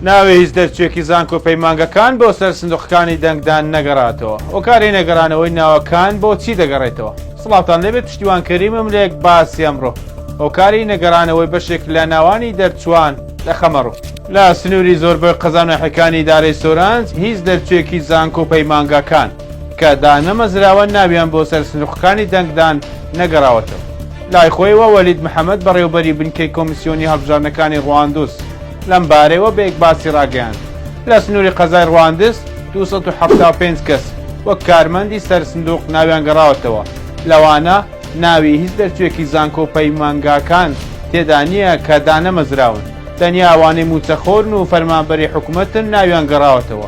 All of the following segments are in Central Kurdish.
ناوی هیچ دەرچوێکی زانکۆ پەیمانگەکان بۆ سەر سندوقەکانی دەنگدان نەگەڕاتەوە هۆکاری نەگەرانەوەی ناوەکان بۆ چی دەگەڕێتەوە سڵاوان لێبێ پشتیوان کەریمم لێک باسی ئەمڕۆ هۆکاری نەگەرانەوەی بەشێک لە ناوانی دەرچوان لە خەمەڕوو لە سنووری زۆربەی قەزانەحەکانی دارەی سۆرانج هیچ دەرچوێکی زانکۆ و پەیمانگاکان کە دانەمەزراوە ناویان بۆ سەر سندوقەکانی دەنگدان نەگەڕاوەتەوە لای خۆیەوە وەلید محەمەد بەڕێوبەری بنکەی کۆمیسیۆنی هەڵبژاردنەکانی ڕواندوس لەم بارەیەوە بە ئیکباسی ڕاگەیاند لە سنوری قەزای ڕواندز دوو سەد و حەفتا و پێنج کەس وەک کارمەندی سەر سندوق ناویان گەڕاوەتەوە لەوانە ناوی هیچ دەرچوێکی زانکۆ و پەیمانگاکان تێدا نییە کە دانەمەزراون تەنیا ئەوانەی موچەخۆرن و فەرمانبەری حکومەتن ناویان گەڕاوەتەوە.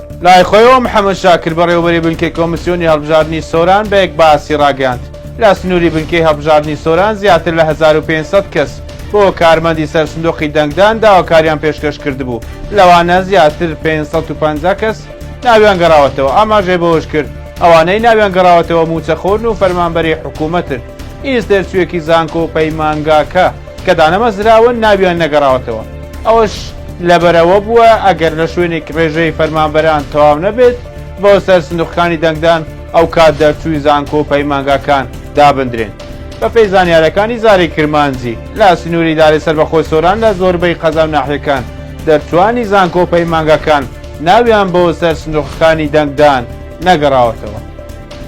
لای خۆیەوە محەمەد شاکر بەڕێوەبەری بنکەی کۆمسیۆنی هەڵبژاردنی سۆران بە یەک باسی ڕاگەیاند، لە سنووری بنکەی هەڵبژاردنی سۆران زیاتر لە هەزار و پێنج سەد کەس بۆ کارمەندی سەر سندوقی دەنگدان داواکاریان پێشکەش کردبوو، لەوانە زیاتر پێنج سەد و پەنجا کەس ناویان گەڕاوەتەوە، ئاماژەی بەوەشکرد، ئەوانەی ناویان گەڕاوەتەوە مووچەخۆرن و فەرمانبەری حکوومەتن، ئیز تێرچوویەکی زانکۆ و پەیمانگاکە. کە دانەمەزراون ناویان نەگەڕاوەتەوە، ئەوەش لەبەرئەوە بووە ئەگەر لە شوێنێک رێژەی فەرمانبەران تەواو نەبێت بۆ سەر سندوقەکانی دەنگدان ئەوکات دەرچووی زانکۆ و پەیمانگاکان دابندرێن. بەپێی زانیارەکانی زاری کرمانجی لە سنوری لاری سەربەخۆی سۆران لە زۆربەی قەزا و ناحیەکان دەرچووانی زانکۆ و پەیمانگاکان ناویان بۆ سەر سندوقەکانی دەنگدان نەگەڕاوەتەوە.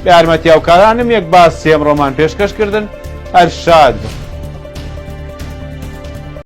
بە یارمەتی هاوکارانم یەک باس سێم ڕۆمان پێشکەش کردن ئەرشاد.